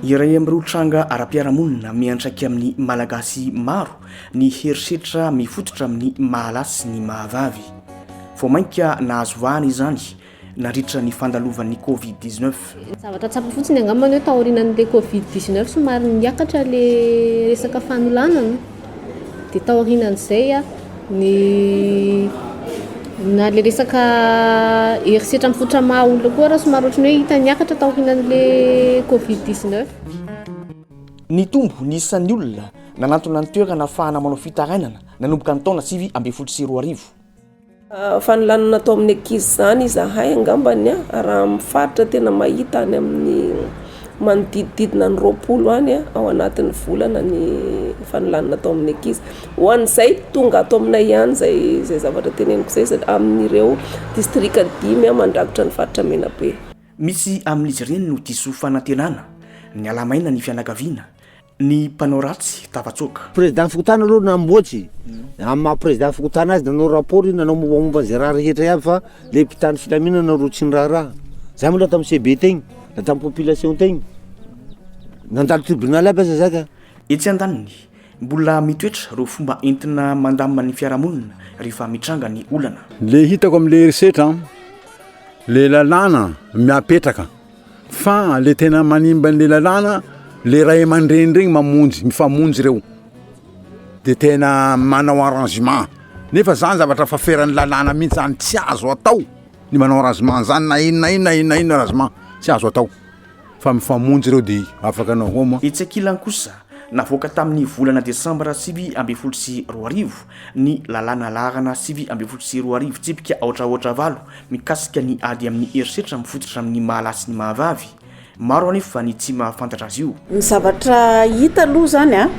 Iray amin'ireo tranga ara-piarahamonina miantraika amin'ny Malagasy maro ny herisetra mifototra amin'ny maha-lahy sy ny maha-vavy. Vao mainka nahazo vahana izany nandritra ny fandalovan'ny Covid-19. Ny zavatra tsapako fotsiny angambany hoe taorianan'ilay covid 19 somary niakatra ilay resaka fanolanana dia taorianan'izay a ny na ilay resaka herisetra mifotra maha olona koa raha somary ohatran'ny hoe hita niakatra taorianan'ilay covid 19 Nitombo ny isan'ny olona nanantona ny toerana ahafahana manao fitarainana nanomboka ny taona sivy ambin'ny folo sy roa arivo. Fanolanana atao amin'ny ankizy izany izahay angambany a, raha amin'ny faritra tena mahita any amin'ny manodidididina ny roapolo any ao anatin'ny volana ny fanolanana atao amin'ny ankizy. Ho an'izay tonga ato aminay ihany izay izay zavatra teneniko izay sa- amin'ireo distrika dimy mandrakotra ny faritra Menabe. Misy amin'izy ireny no diso fanantenana, niala-maina ny fianakaviana, Ny mpanao ratsy tafatsoaka. Président fokontany aloha namboatry amin'ny maha président fokontany azy nanao rapport io nanao mombamomba izay raha rehetra iaby fa le mpitandro filaminana ro tsy niraharaha zany mbola tamin'ny CB tegny na tamin'ny population tegny nandalo tribunal aby aza za ka. Etsy andaniny, mbola mitoetra ireo fomba entina mandamina ny fiarahamonina rehefa mitranga ny olana. Le hitako amle herisetra an, le lalàna miapetraka Fa le tena manimba an'le lalàna le ray aman-dreny regny mamonjy, mifamonjy reo, de tena manao arrangement, nefa zany zavatra efa feran'ny lalàna mihintsy zany, tsy azo atao ny manao arrangement zany na inona na inona na inona na inona arrangement tsy azo atao, fa mifamonjy reo de afaka anao homa. Etsy ankilany kosa, navoaka tamin'ny volana desambra sivy ambin'ny folo sy roa arivo ny lalàna laharana sivy ambin'ny folo sy roa arivo tsipika aotra aotra valo mikasika ny ady amin'ny herisetra mifototra amin'ny maha lahy sy ny maha vavy. Maro anefa ny tsy mahafantatra azy io. Ny zavatra hita aloha izany an,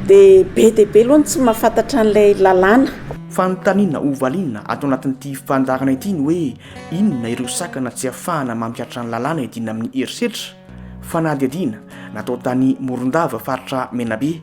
dia be dia be aloha ny tsy mahafantatra an'ilay lalàna. Fanontaniana ho valiana ato anatin'ity fandaharana ity ny hoe inona ireo sakana tsy afahana mampiatra ny lalàna iadiana amin'ny herisetra? Fanadihadiana natao tany Morondava, faritra Menabe,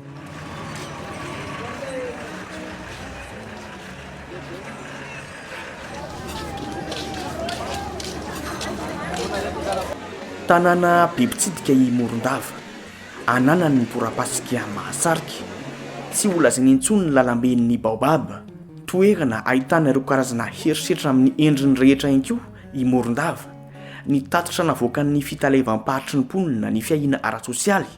Tanàna be mpitsidika i Morondava, ananany ny torapasika mahasarika. Tsy ho lazaina intsony ny lalamben'ny Baobab, toerana ahitana ireo karazana herisetra amin'ny endriny rehetra ihany koa i Morondava. Ny tatitra navoakan'ny Fitaleavam-paritry ny mponina ny fiahiana ara-tsosialy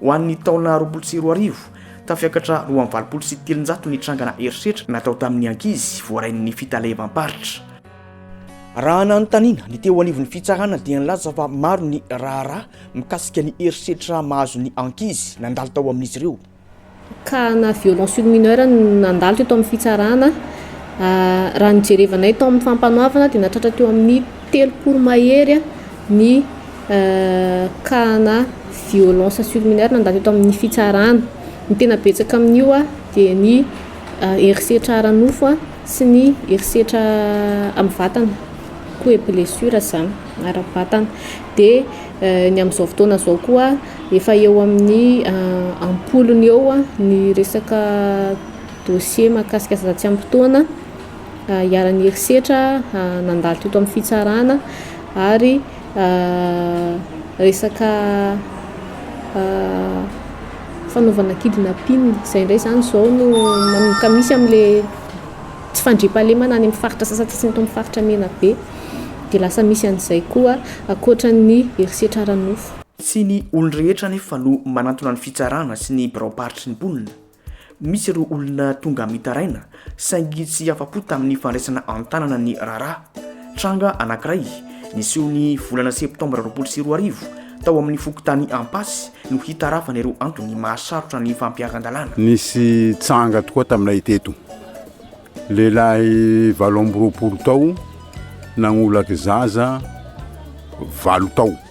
Ho an'ny taona roapolo sy roa arivo, tafiakatra roa amby valopolo sy telonjato ny trangana herisetra natao tamin'ny ankizy voarain'ny fitalevam-paritra. Raha nanontaniana ny teo anivon'ny fitsarana dia nilaza fa maro ny raharaha mikasika ny herisetra mahazo ny ankizy nandalo tao amin'izy ireo. ka na violon sur mineur no nandalo teto amin'ny fitsarana, raha ny jerevanay tao amin'ny fampanoavana dia nahatratra teo amin'ny telopolo mahery ny cas-na violence sur mineur nandalo teto amin'ny fitsarana, ny tena betsaka amin'io dia ny herisetra ara-nofo sy ny herisetra amin'ny vatana, coups et blessures izany ara-batana, dia ny amin'izao fotoana izao koa Efa eo amin'ny am-polony eo ny resaka dossier mahakasika zaza tsy ampy taona iharan'ny herisetra nandalo teto amin'ny fitsarana ary resaka fanaovana kidnapping izay indray izany izao no manomboka misy amin'ilay tsy fandriampahalemana any amin'ny faritra sasantsasany eto amin'ny faritra Menabe dia lasa misy an'izay koa ankoatra ny herisetra ara-nofo. Tsy ny olon-drehetra anefa no manantona ny fitsarana sy ny biraom-paritry ny mponina. Misy ireo olona tonga mitaraina saingy tsy afa-po tamin'ny fandraisana an-tanana ny raharaha. Tranga anankiray niseho ny volana septambra roapolo sy roa arivo tao amin'ny fokontany Ampasy no hitarafana ireo antony mahasarotra ny fampiaran-dalàna. Nisy tranga tokoa taminay teto. Lehilahy valo amby roapolo tao nagnolaky zaza valo tao.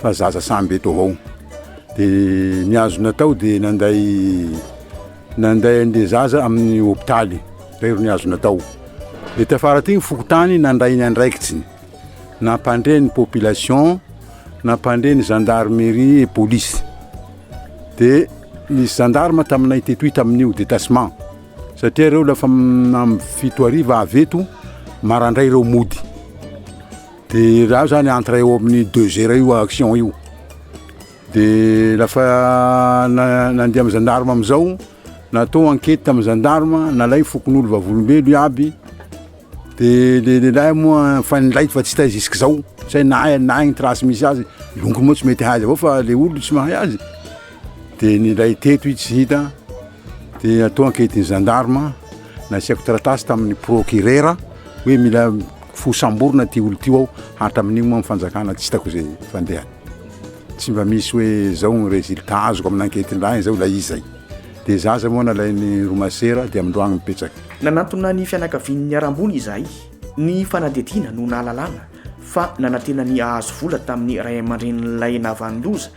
fa zaza samby eto avao de ny azo natao de nanday nanday an'le zaza amin'ny hopitaly zay ro ny azo natao de tafara ty ny fokontany nandray ny andraikitsiny nampandre ny population nampandre ny gendarmerie et police de nisy gendarme taminay tetoy tamin'io détachement satria reo lafa amin'ny fito hariva avy eto marandray reo mody De raha zany entre eo amin'ny deux heures eo action io, de lafa nandeha amin'ny gendarme amizao, natao enquete tamin'ny gendarme, nalainy fokonolona vavolombelona iaby, de le lehilahy moa efa nilay fa tsy hita jusque zao, tsy hay na aiza na aiza ny trace misy azy, longo moa tsy mety hahay azy avao fa le olona tsy mahay azy. Dia nindray teto i Jida, dia atao ankehitriny zandarma, nasiako taratasy tamin'ny prokirera hoe mila fosamborina ity olo tio aho, hatramin'io moa ny fanjakana tsy hitako izay fandehany. Tsy mba misy hoe zao ny résultat azoko amin'ankehitriny izao ilay izy zay. Dia za zay moa nalain'ny roa masera dia amin'ny roa agny mipetraka. Nanantona ny fianakavian'ny niharam-boina izahay. Ny fanadihadiana no nahalalana fa nanantena ny hahazo vola tamin'ny ray aman-drenin'ilay nahavanon-doza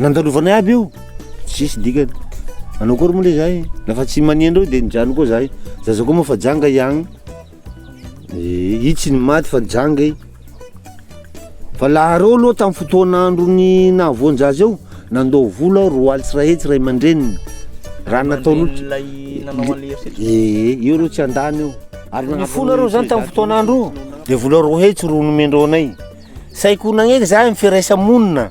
Nandalovana iaby io, tsisy dikany, manao akory moa le zahay, la fa tsy mania andreo de mijano koa zahay, zaza koa moa fa janga i agny, eh i tsy ny maty fa janga i, fa la areo aloha tamin'ny fotoana andron'ny nahavoan-jaza eo, nandao vola aho roa alina sy iray hetsy ray aman-dreniny, raha nataon'olo, eeh io aloha tsy handany io, ary nifoha nareo zany tamin'ny fotoana andro io, de vola roa hetsy ro nomendreo anay, sahy ko nagnenga zahay amin'ny firaisa-monina.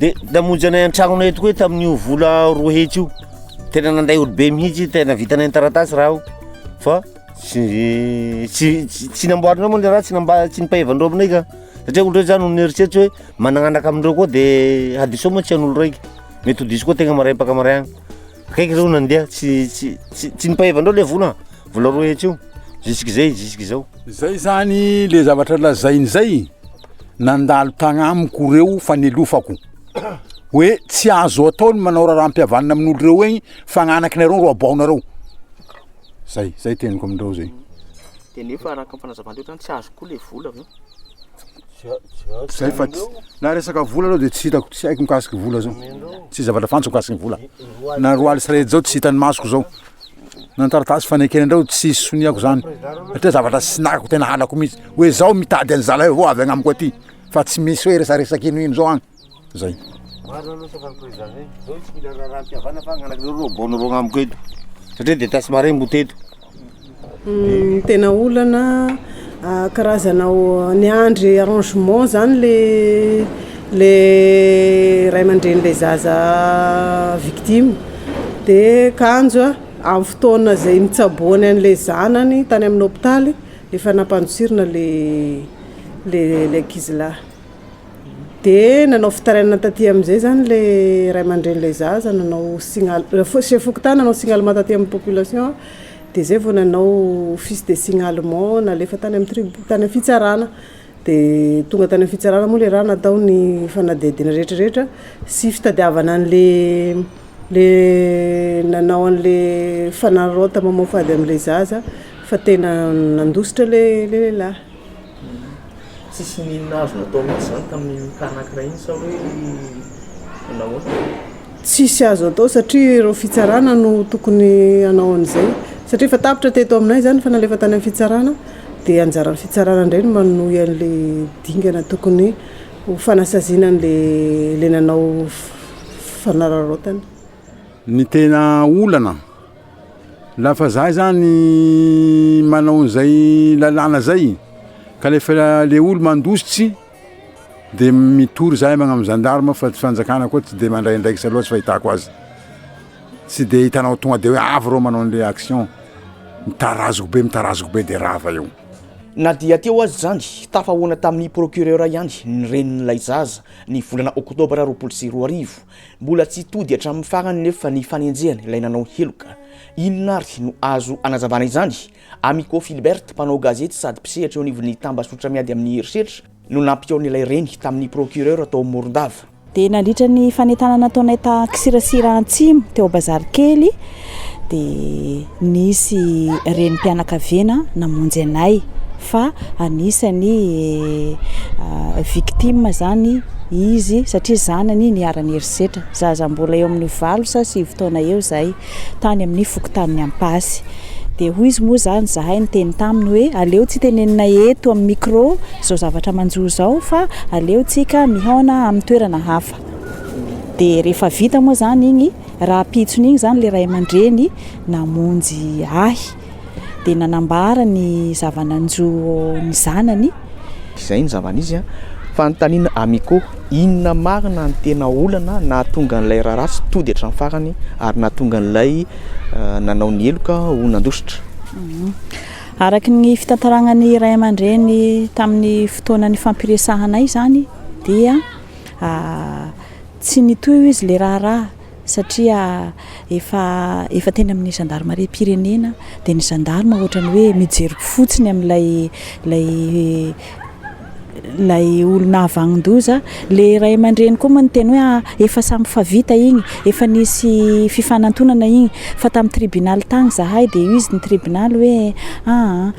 De namonjy anay an-tragnonay eto koa izy tamin'io vola roa hetsy io, tena nandray olobe mihitsy izy, tena vitanay ny taratasy raha io fa tsy tsy- tsy namboarinay moa le raha, tsy namba- tsy nipahevan'ireo aminay ka, satria olona reny zany omeo eritreritry hoe manana anaka amindreo koa de hadisoana moa tsy an'olo raika, mety ho diso koa tegna maraim-paka maraina. Akaiky zao nandeha tsy tsy tsy tsy nipahevan'ireo le vola vola roa hetsy io jusk'izay jusk'izao. Zay zany le zavatra lazainy zay nandalo tagnamiko reo fa nelofako hoe tsy azo atao ny manao raharaham-pihavanana amin'olo reo egny fa gn'anakinareo ro aboahanareo zay zay teniko amindreo zay. De nefa araka ny fanazavan-dreo zany tsy azo koa le vola avy eo. Zay fa tsy, na resaka vola aloha dia tsy hitako, tsy haiko mikasiky vola zao, tsisy zavatra fantatro mikasiky ny vola, na roa alina sy iray hetsy zao tsy hitan'ny masoko zao, na ny taratasy fanekena ndray tsy soniako zany, satria zavatra tsy nahiko tena halako mintsy, hoe zao mitady an'zalahy vao avy agnamiko aty, fa tsy misy hoe resaresaka ino ino zao agny. Zay. Marina aloha saka ny président zay. Zao tsy mila raharaham-pihavanana fa agnanak' ireo roa bôno roa agnamiko eto. Satria dia tasy marin mbo teto. Ny tena olana karazana niandry arrangement zany le le ray aman-dreny le zaza victime de kanjo amin'ny fotoana zay nitsaboany anle zanany tany amin'ny hopitaly efa nampandosirina le le ankizilahy. Dia nanao fitarainana taty amin'izay izany ilay ray aman-drenin'ilay zaza, nanao signal, chef fokontany nanao signalement taty amin'ny population, dia izay vao nanao office de signalement, nalefa tany amin'ny trib- tany amin'ny fitsarana. Dia tonga tany amin'ny fitsarana moa ilay raha natao ny fanadihadiana rehetrarehetra sy fitadiavana an'ilay ilay nanao an'ilay fanararaotana mamoafady an'ilay zaza fa tena nandositra ilay lehilahy. Tsisy n'inona azony atao mihintsy izany tamin'iny tany ankiray iny sa hoe nahoana? Tsisy azo atao satria ireo fitsarana no tokony hanao an'izay satria efa tapitra teto aminay izany efa nalefa tany amin'ny fitsarana dia anjaran'ny fitsarana indray no manohy an'ilay dingana tokony ho fanasaziana an'ilay ilay nanao fanararaotana. Ny tena olana. Lafa za zany manao an'izay lalàna zay, ka le fa le olo mandositsy de mitory zahay magnano gendarme fa tsy fanjakana koa tsy de mandray andraikitra loatsa fahitako azy, tsy de hitanao tonga de hoe avy reo manao an'le action, mitarazoky be mitarazoky be de rava eo. Na dia teo aza izany, tafahoana tamin'ny procureur ihany ny renin'ilay zaza, ny volana oktobra roapolo sy roa arivo. Mbola tsy tody hatramin'ny farany nefa ny fanenjehana ilay nanao heloka. Inona ary no azo anazavana izany? Amico Philbert, mpanao gazety sady mpisehatra eo anivon'ny tambazotra miady amin'ny herisetra, no nampihaona ilay reny tamin'ny procureur tao Morondava. Dia nandritra ny fanentanana nataonay ta K'sirasira Antsimo teo Bazarikely dia nisy renim-pianakaviana namonjy anay fa anisany victime zany izy satria zanany niharan'ny herisetra, zaza mbola eo amin'ny valo sa sivy taona eo zay tany amin'ny fokontanin'ny Ampasy dia hoy izy moa zany zahay niteny taminy hoe aleo tsy tenenina eto amin'ny micro zao zavatra manjo zao fa aleo tsika mihaona amin'ny toerana hafa dia rehefa vita moa zany iny Rahampitso n'iny izany ilay ray aman-dreny namonjy ahy, dia nanambara ny zava-nanjo ny zanany. Izay ny zava-nisy an! Fanontaniana Amiko, Inona marina ny tena olana nahatonga an'ilay raharaha tsy tody hatramin'ny farany ary nahatonga an'ilay nanao ny heloka ho nandositra? Araka ny fitantarana ny ray aman-dreny tamin'ny fotoana nifampiresahanay izany dia. Tsy nitohy hoy izy ilay raharaha satria efa efa teny amin'ny zandarimariam-pirenena dia ny zandarima ohatran'ny hoe mijery fotsiny amin'ilay ilay ilay olona havagnin-doza. Ilay ray aman-dreny koa moa niteny hoe efa samy fa vita iny, efa nisy fifanantonana iny fa tamin'ny tribonaly tany izahay dia hoy izy ny tribonaly hoe aa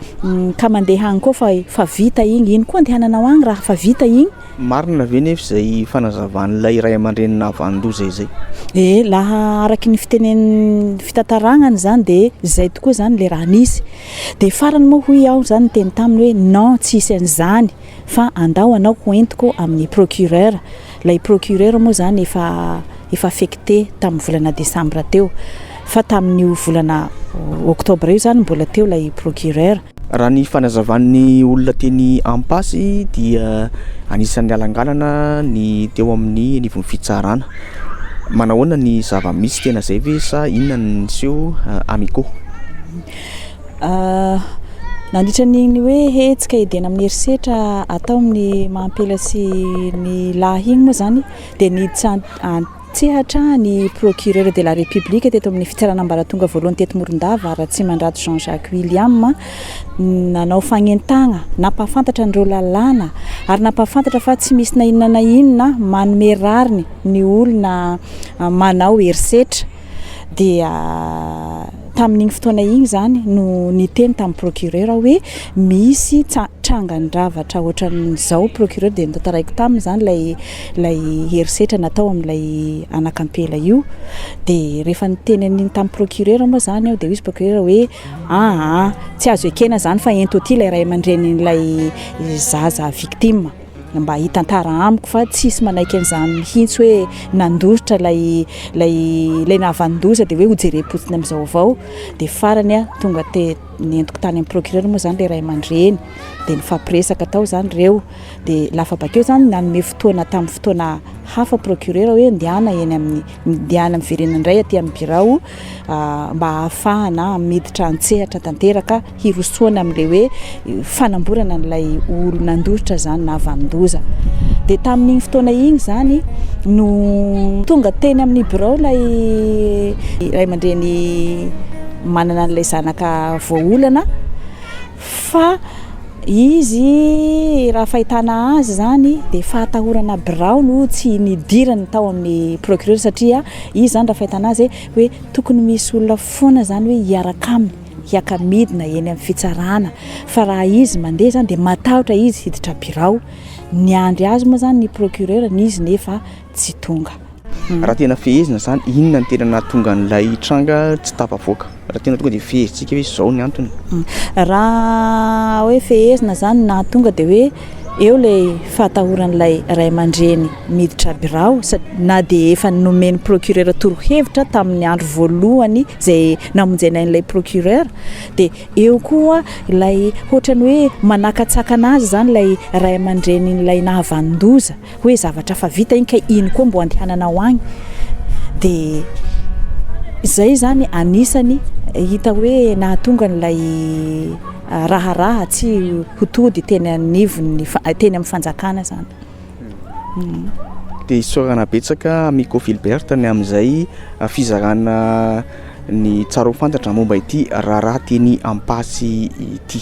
ka mandeha any koa fa fa vita iny, iny koa andehananao any raha fa vita iny? Marina ve nefa izay fanazavan'ilay ray aman-dreny nahavanon-doza izay? E! laha araky ny fitenenin'ny fitantaragna izany dia izay tokoa izany ilay raha nisy. Dia farany moa hoy aho izany niteny taminy hoe non tsy hisy an'izany fa andao anao ho entiko amin'ny procureur. Ilay procureur moa izany efa efa affecté tamin'ny volana décembre teo fa tamin'io volana octobre io izany mbola teo ilay procureur. Raha ny fanazavan'ny olona teny Ampasy dia anisan'ny nialangalana ny teo amin'ny anivon'ny fitsarana. Manahoana ny zava-misy, tena izay ve sa inona no niseho Amiko? Nandritra an'iny hoe hetsika edena amin'ny herisetra atao amin'ny maha ampela sy ny lahy iny moa izany dia niditra an-. Tsehatra ny Procureur de la République teto amin'ny Fitsarana Ambaratonga Voalohany teto Morondava, Ratsimandrato Jean Jacques William, nanao fagnentagna, nampahafantatra an'ireo lalàna ary nampahafantatra fa tsy misy na inona na inona manome rariny ny olona manao herisetra. Dia tamin'igny fotoana igny zany no niteny tamin'ny Procureur aho hoe misy tsa- trangan-dravatra ohatran'izao Procureur dia notantaraiko taminy zany ilay ilay herisetra natao amin'ilay anak'ampela io dia rehefa niteny an'iny tamin'ny procureur moa izany aho dia hoy izy procureur hoe aa tsy azo ekena izany fa ento aty ilay ray aman-drenin'ilay zaza victime mba hitantara amiko fa tsisy manaiky an'izany mihitsy hoe nandositra ilay ilay ilay nahavanon-doza dia hoe hojerem-potsiny amin'izao avao dia farany aho tonga te nentiko tany amin'ny procureur moa izany ilay ray aman-dreny dia nifampiresaka tao izany ireo Dia lafa bakeo zany nanome fotoana tamin'ny fotoana hafa procureur hoe ndehana eny amin'ny ndehana miverena indray aty amin'ny birao mba hahafahana miditra an-tsehatra tanteraka hirosoana amin'ilay hoe fanamborana an'ilay olo nandositra zany na vanon-doza. Dia tamin'iny fotoana iny zany no tonga teny amin'ny birao ilay ray aman-dreny manana an'ilay zanaka voaolana. Fa izy raha fahitana azy izany dia fahatahorana birao no tsy nidirany tao amin'ny procureur satria izy izany raha fahitana azy hoe tokony misy olona foana izany hoe hiaraka aminy hiaka midina eny amin'ny fitsarana fa raha izy mandeha izany dia matahotra izy hiditra birao, niandry azy moa izany ny procureur n'izy nefa. tsy tonga. Raha tena fehezina izany, inona no tena nahatonga an'ilay tranga tsy tafavoaka? Raha tena tonga dia fehezintsika hoe izao ny antony. Raha hoe fehezina izany no nahatonga dia hoe eo ilay fahatahoran'ilay ray aman-dreny miditra birao na dia efa nomen'ny procureur torohevitra tamin'ny andro voalohany izay namonjena an'ilay procureur dia eo koa ilay hoatran'ny hoe manakatsakana azy izany ilay ray aman-drenin'ilay nahavanon-doza. Hoe zavatra fa vita iny kay iny koa mbo andehanana ho any dia izay izany anisany hita hoe nahatonga an'ilay raharaha tsy ho tody teny anivon'ny teny amin'ny fanjakana izany. Dia isaorana betsaka Miko Philbert ny amin'izay fizarana ny tsara ho fantatra momba ity raharaha teny Ampatsy ity.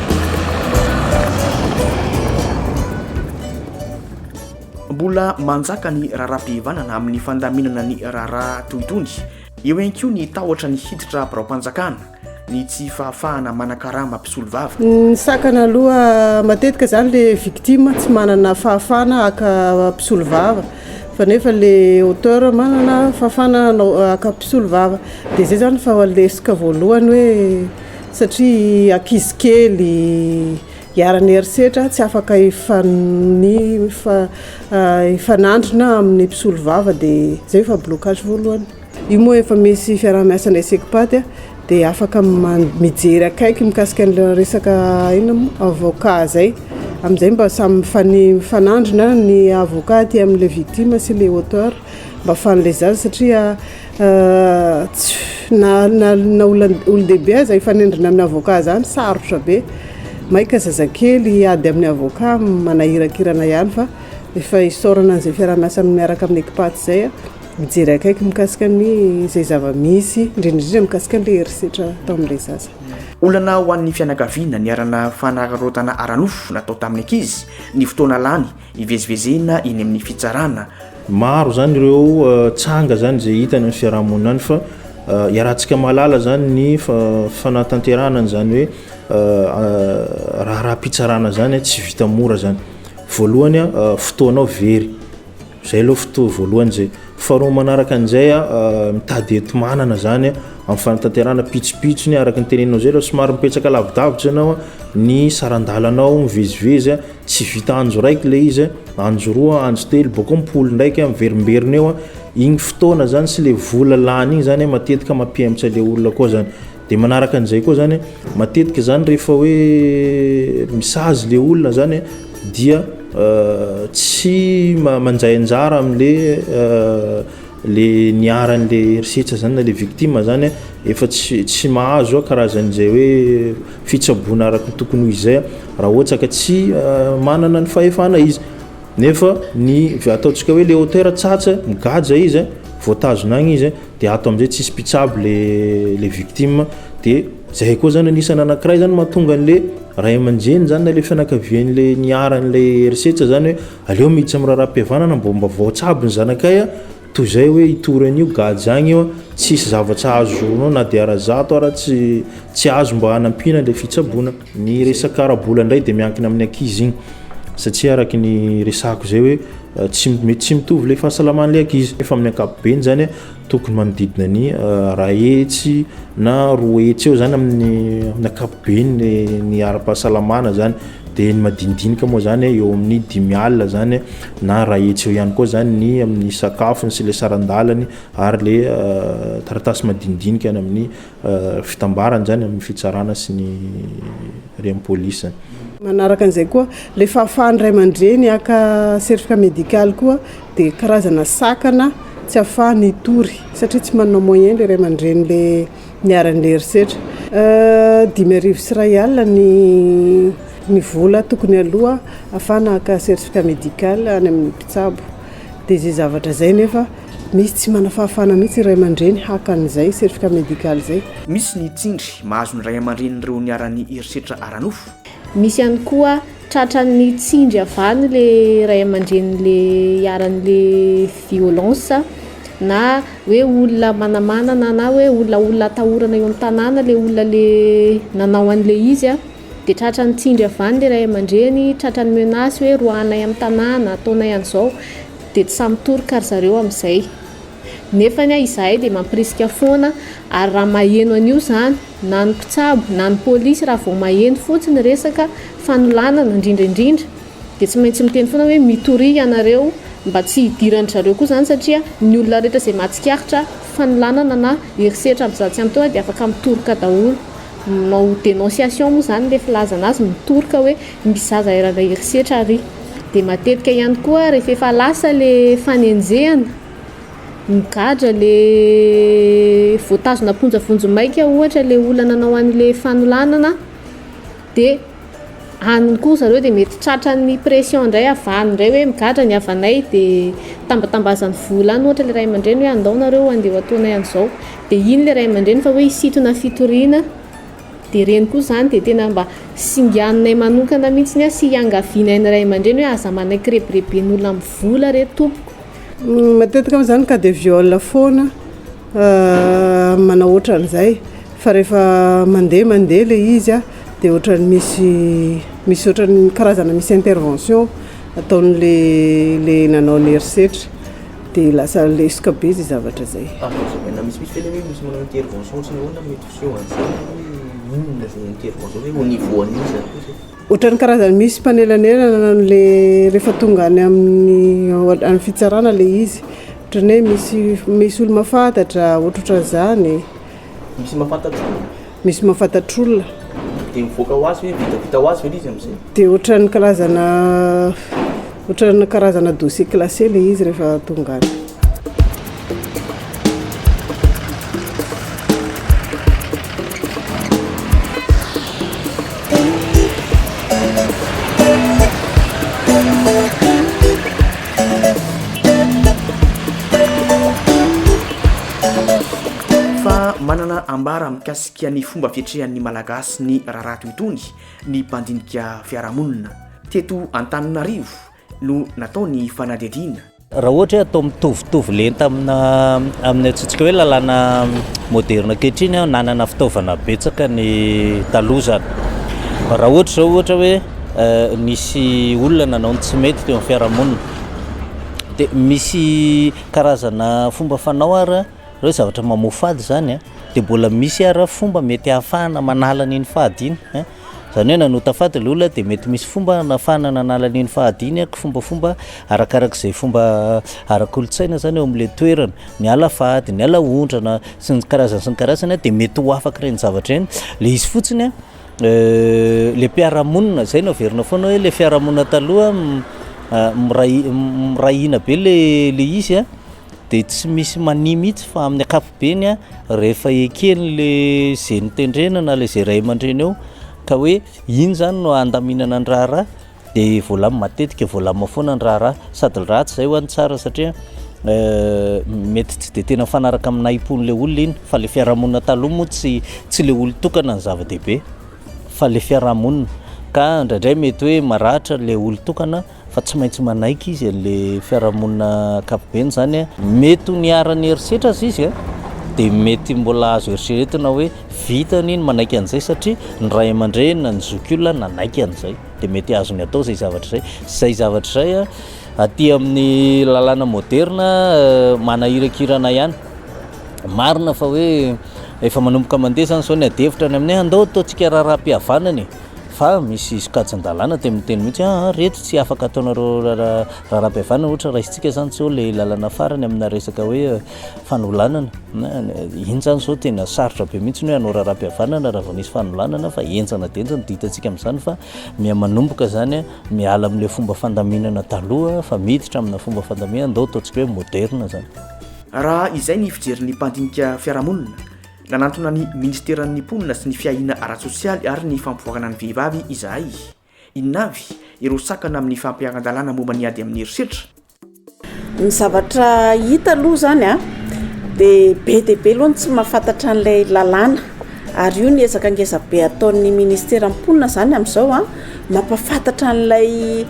Mbola manjaka ny raharaham-pihavanana amin'ny fandaminana ny raharaha toy itony. Eo ihany koa ny tahotra ny hiditra biraom-panjakana, ny tsy fahafahana manakarama mpisolovava. Ny sakana aloha matetika izany ilay victime tsy manana fahafahana haka mpisolovava fa nefa ilay auteur manana fahafahana haka mpisolovava. Dia izay izany fa lesoka voalohany hoe... satria ankizy kely iharan'ny herisetra tsy afaka hifanandrina amin'ny mpisolovava dia izay efa blocage voalohany. Io moa efa misy fiaraha-miasa ny SECPAD dia afaka mijery akaiky mikasika an'ilay resaka inona moa avocat izay, amin'izay mba samy mifanandrina ny avocat aty amin'ilay victime sy ilay auteur mba ahafahan'ilay zaza satria Na na na olon-dehibe aza hifanindrina amin'ny avocat zany sarotra be, maika zazakely hiady amin'ny avocat manahirakirana ihany fa efa isaorana an'izay fiaraha-miasa miaraka amin'ny Ecpat zay a, mijery akaiky mikasika ny izay zava-misy indrindra indrindra mikasika an'ilay herisetra atao amin'ilay zaza. Olana ho an'ny fianakaviana niharanà fanararaotana ara-nofo natao tamin'ny ankizy, ny fotoana lany, Hivezivezena eny amin'ny fitsarana. Maro zany ireo tsanga zany izay hita any amin'ny fiarahamonina any fa iarahantsika mahalala zany ny fanatanterahana an'izany hoe raharaham-pitsarana zany tsy vita mora zany. Voalohany fotoana ao very, zay aloha fotoa voalohany zay. Faharoa manaraka an'izay mitady enti-manana zany amin'ny fanatanterahana pitsopitsony araka ny teneninao zay aloha somary mipetsaka lavidavitra ianao ny saran-dalanao mivezivezy. Tsy vita andro raiky ilay izy, andro roa, andro telo, bôkô mipoly ndraiky, miverimberina eo, igny fotoana zany sy le vola lany igny zany matetika mampihemotra le olona koa zany, de manaraka an'izay koa zany, matetika zany rehefa hoe misazy le olona zany dia tsy manjay anjara amle. le niharan le herisetra zany na le victime zany efa tsy tsy mahazo karazan zay hoe fitsaboana araky ny tokony ho izy zay raha ohatra ka tsy manana ny fahefana izy nefa ny ataontsika hoe le auteur tsatsa migadra izy voatazona agny izy de ato amizay tsisy mpitsabo le le victime de zay koa zany anisany anakiray zany mahatonga anle ray aman-dreny zany na le fianakavianle niharanle herisetra zany hoe Aleo mitsy am raharaham-pihavanana mbô mba vaots aby ny zanakay a! toy zay oe hitory anio gajy agny io a! tsisy zavatra ahazoronao na de ara zato ara tsy tsy azo mba hanampiana le fitsaboana. Ny resaka ara-bola ndray de miankina amin'ny ankizy igny satria araky ny resahako zay oe tsy mety tsy mitovy le fahasalaman'le ankizy nefa amin'ny ankapobeny zany a! Tokony manodidina ny iray hetsy na roa hetsy eo izany amin'ny amin'ny ankapobeny ny ny ara-pahasalamana izany dia ny madinidinika moa izany eo amin'ny dimy alina izany na iray hetsy eo ihany koa izany ny amin'ny sakafony sy ilay saran-dalany ary ilay taratasy madinidinika any amin'ny fitambarany izany amin'ny fitsarana sy ny rem police. Manaraka an'izay koa, ilay fahafahan'ny ray aman-dreny haka certificat médical koa dia karazana sakana tsy ahafahany hitory satria tsy manana moyen ilay ray aman-dreny le niharan'ilay herisetra. Dimy arivo sy iray alina ny ny vola tokony aloa ahafahana haka certificat médical any amin'ny mpitsabo. Dia izay zavatra izay nefa misy tsy manafahafahana mihitsy ny ray aman-dreny haka an'izay certificat médical izay. Misy ny tsindry mahazo ny ray aman-drenin'ireo niharan'ny herisetra ara-nofo. Misy ihany koa tratran'ny tsindry havan'ilay ray aman-drenin'ilay hiharan'ilay violence na hoe olona manamanana na hoe olona olona atahorana eo amin'ny tanàna ilay olona ilay nanao an'ilay izy. Dia tratran'ny tsindry avy any ilay ray aman-dreny, tratran'ny menace hoe roahanay amin'ny tanàna, ataonay an'izao, dia tsy sahy mitoroka ry zareo amin'izay. Nefa anie izahay dia mampirisika foana ary raha maheno an'io izany na ny mpitsabo na ny polisy raha vao maheno fotsiny resaka fanolanana indrindra indrindra dia tsy maintsy miteny foana hoe mitoria ianareo mba tsy hidiran-dry zareo koa izany satria ny olona rehetra izay mahatsikaritra fanolanana na herisetra amin'izany tsy ampy teo dia afaka mitoroka daholo. Manao dénonciation moa izany ilay filaza an'azy mitoroka hoe misy zaza iray andeha herisetra ary. Dia matetika ihany koa rehefa efa lasa le fanenjehana, migadra le voatazona am-ponja vonjimaika ohatra le olona nanao an'ilay fanolanana dia. Any koa zareo dia mety tratran'ny pression indray avy any indray hoe migadra ny havanay dia tambatambazan'ny vola any ohatra ilay ray aman-dreny hoe andao nareo andeha ho ataonay an'izao dia iny ilay ray aman-dreny fa hoe hisintona fitoriana dia ireny koa izany dia tena mba singanay manokana mihintsy sy iangavianay ny ray aman-dreny hoe aza manaiky rebireben'olona amin'ny vola re tompoko. Matetika moa izany cas de viol foana. manao ohatran'izay fa rehefa mandeha mandeha ilay izy dia ohatran'ny misy misy ohatran'ny karazana misy intervention ataon'ilay ilay nanao ny herisetra dia lasa lesoka be izay zavatra izay. Afa-na misimisy ve ilay hoe misy manao intervention sy ny ahoana mety miseho an'izany hoe inona izay intervention izay, au niveau an'iza koa izay? Ohatran'ny karazany misy mpanelanelana le rehefa tonga any amin'ny any fitsarana le izy. Ohatran'ny hoe misy misy olo mahafantatra ohatrohatran'izany. Misy mahafantatra olona. Misy mahafantatra olona. Dia mivoaka ho azy ve vitavita ho azy ve le izy amin'izay? Dia ohatran'ny karazana Ohatran'ny karazana dossier classé ilay izy rehefa tonga any. Fa manana ambara mikasika ny fomba fiatrehan'ny Malagasy ny raharaha toy itony ny mpandinika fiarahamonina teto Antananarivo no natao ny fanadihadiana. Raha ohatra hoe atao mitovitovy lenta amina amin'ny antsontsika hoe lalàna moderina ankehitriny, nanana fitaovana betsaka ny taloha izany. Raha ohatra izao ohatra hoe nisy olona nanao ny tsy mety teo amin'ny fiarahamonina, dia misy karazana fomba fanao ary Hoe zavatra mamoa fady izany a, dia mbola misy ary fomba mety ahafahana manala an'iny fady iny a, izany hoe nanota fady ilay olona dia mety misy fomba hanafahana nanala an'iny fady iny a, kifombafomba arakarak'izay fomba ara-kolontsaina izany eo amin'ilay toerana, miala fady, miala ondrana sy ny karazany sy ny karazany a, dia mety ho afaka ireny zavatra ireny, ilay izy fotsiny a ilay mpiara-monina, izay no averina foana hoe ilay fiarahamonina taloha miray hina be ilay izy a. dia tsy misy mania mihitsy fa amin'ny ankapobeny rehefa ekeny le izay notendrena na le izay ray aman-dreny eo ka hoe iny izany no handaminana ny raharaha dia voalamina matetika voalamina foana ny raharaha sady ratsy izay ho an'ny tsara satria euh, mety tsy dia tena fanaraka amin'ny nahim-pon'ilay olona iny fa le fiarahamonina taloha moa tsy tsy le olon-tokana ny zava-dehibe fa le fiarahamonina ka indraindray mety hoe maratra le olon-tokana fa tsy maintsy manaiky izy an'le fiarahamonina ankapobeny zany a. Mety ho niharan'ny herisetra aza izy a, de mety mbola azo eritreretina hoe vitany ny manaiky an'izay satria ny ray aman-dreny na ny zokiolona nanaiky an'izay, de mety azony atao izay zavatra izay. Izay zavatra izay a, aty amin'ny lalàna moderna manahirakirana ihany. Marina fa hoe efa manomboka mandeha zany zao ny adihevitra any aminay, andao ataontsika raharaham-pihavanana e! Fa misy sokajin-dalàna teo amin'ny teny mihitsy hoe aa reto tsy afaka ataonareo raharaha-pivavahana ohatra raisintsika izany tsy eo ilay lalana farany amina resaka hoe fanolanana na iny izany izao tena sarotra be mihitsy ny hoe hanao raharaha-pihavanana raha vao nisy fanolanana fa henjana dia henjana dia hitantsika amin'izany fa miha-manomboka izany miala amin'ilay fomba fandaminana taloha fa miditra amina fomba fandaminana ndao ataontsika hoe moderina izany. Raha izay ny fijerin'ny mpandinika fiarahamonina Nanantona ny Ministeran'ny Mponina sy ny Fiahiana ara-tsosialy ary ny Fampivoarana ny Vehivavy izahay. Inona avy ireo sakana amin'ny fampiharan-dalàna momba ny ady amin'ny herisetra? Ny zavatra hita aloha izany dia be dia be aloha ny tsy mahafantatra an'ilay lalàna. Ary io ny ezaka ngezabe ataon'ny Ministeran'ny Mponina izany amin'izao. Mampahafantatra an'ilay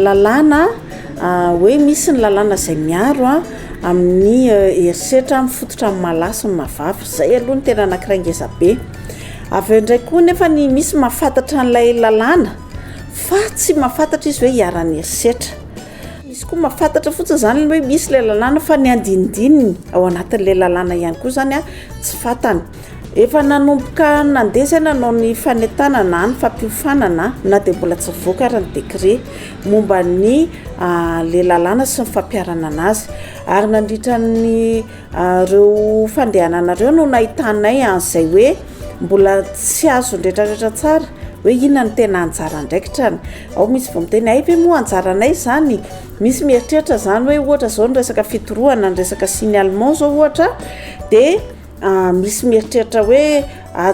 lalàna hoe misy ny lalàna izay miaro amin'ny herisetra mifototra amin'ny maha lahy sy ny maha vavy. Izay aloha no tena anankiray ngeza be. Avy eo indray koa nefa ny misy mahafantatra an'ilay lalàna fa tsy mahafantatra izy hoe iharan'ny herisetra. Misy koa mahafantatra fotsiny izany hoe misy ilay lalàna fa ny andinindininy ao anatin'ilay lalàna ihany koa izany tsy fantany. Efa nanomboka nandeha izay nanao ny fanentanana na ny fampiofanana na dia mbola tsy nivoaka ary ny décret momba ny le lalàna sy ny fampiharana anazy ary nandritra ny ireo fandehanana ireo no nahitanay an'izay hoe mbola tsy azony retraretra tsara hoe inona no tena anjara andraikitrany ao misy vao miteny hay ve moa anjaranay izany misy mieritreritra izany hoe ohatra izao ny resaka fitorohana ny resaka signalement izao ohatra dia Misy mieritreritra hoe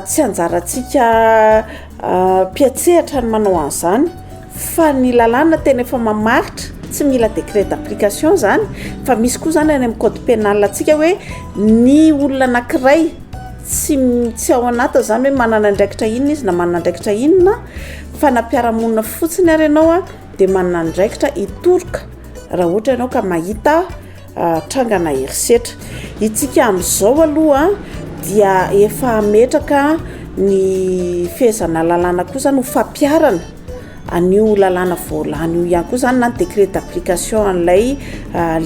tsy anjarantsika mpiantsehatra ny manao an'izany fa ny lalàna tena efa mamaritra, tsy mila décret d'application izany fa misy koa izany any amin'ny code pénal antsika hoe ny olona anankiray tsy m- tsy ao anatiny izany hoe manana andraikitra inona izy na manana andraikitra inona fa na mpiara-monina fotsiny ary ianao a dia manana andraikitra hitoroka raha ohatra ianao ka mahita trangana herisetra. Itsika amin'izao aloha dia efa ametraka ny fehezana lalàna koa izany ho fampiharana an'io lalàna voalany io ihany koa izany na ny décret d'application an'ilay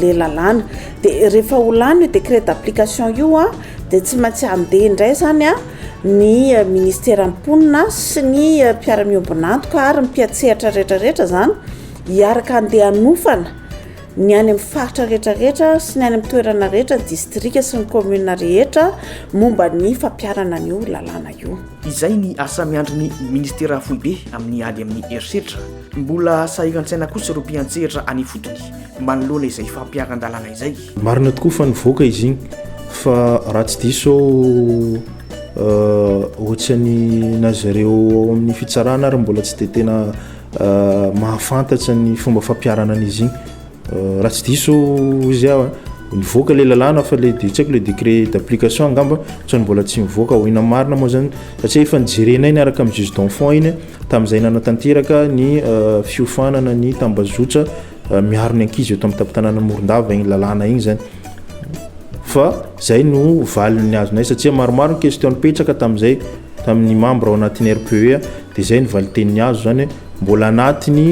le lalàna. Dia rehefa ho lany io décret d'application io dia tsy maintsy handeha indray izany ny ministeran'ny mponina sy ny mpiara-miombon'antoka ary ny mpiantsehatra rehetra rehetra izany hiaraka handeha hanofana Ny any amin'ny faritra rehetra rehetra sy ny any amin'ny toerana rehetra, distrika sy ny commune rehetra momba ny fampiharana an'io lalàna io. Izay ny asa miandry ny Ministera foibe amin'ny ady amin'ny herisetra. Mbola sahiran-tsaina kosa ireo mpiantsehatra any ifotony manoloana izay fampiharan-dalàna izay. Marina tokoa fa nivoaka izy igny fa raha tsy diso aho ohatrany na zareo ao amin'ny fitsarana ary mbola tsy dia tena mahafantatra ny fomba fampiharana an'izy igny raha tsy diso izy aho a nivoaka le lalàna fa le de tsy haiko le décret d'application angamba sao ny mbola tsy nivoaka ho inona marina moa zany satria efa nijerenay niaraka amin'ny juge d'enfant iny tamin'izay nanatanteraka ny fiofanana ny tambazotra miaro ny ankizy eto amin'ny tampon-tanàna Morondava igny lalàna igny zany fa zay no valiny azonay satria maromaro ny question nipetraka tamin'izay tamin'ny membre ao anatin'ny RPEA dia izay ny valiteniny azo izany hoe mbola anatiny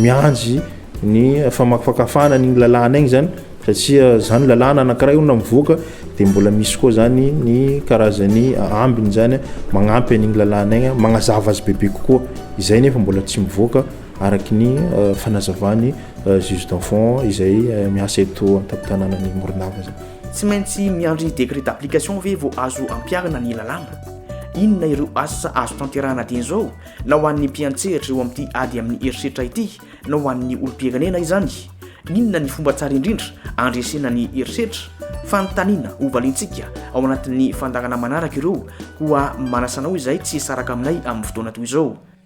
miandry ny famakafakafahana ny lalàna iny izany satria izany lalàna anankiray olona mivoaka dia mbola misy koa izany ny karazany ambiny izany magnampy an'iny lalàna iny magnazava azy bebe kokoa izay nefa mbola tsy mivoaka araky ny fanazavany juge d'enfant izay miasa eto an-tampon-tanànan'ny Morondava izany Tsy maintsy miandry décret d'application ve vao azo ampiharina ny lalàna? Inona ireo asa azo tanterahana dieny izao na ho an'ny mpiantsehatra eo amin'ity ady amin'ny herisetra ity na ho an'ny olom-pirenena izany? Inona ny fomba tsara indrindra handresena ny herisetra? Fanontaniana hovaliantsika ao anatin'ny fandaharana manaraka ireo koa manasa anao izay tsy hisaraka aminay amin'ny fotoana toy izao.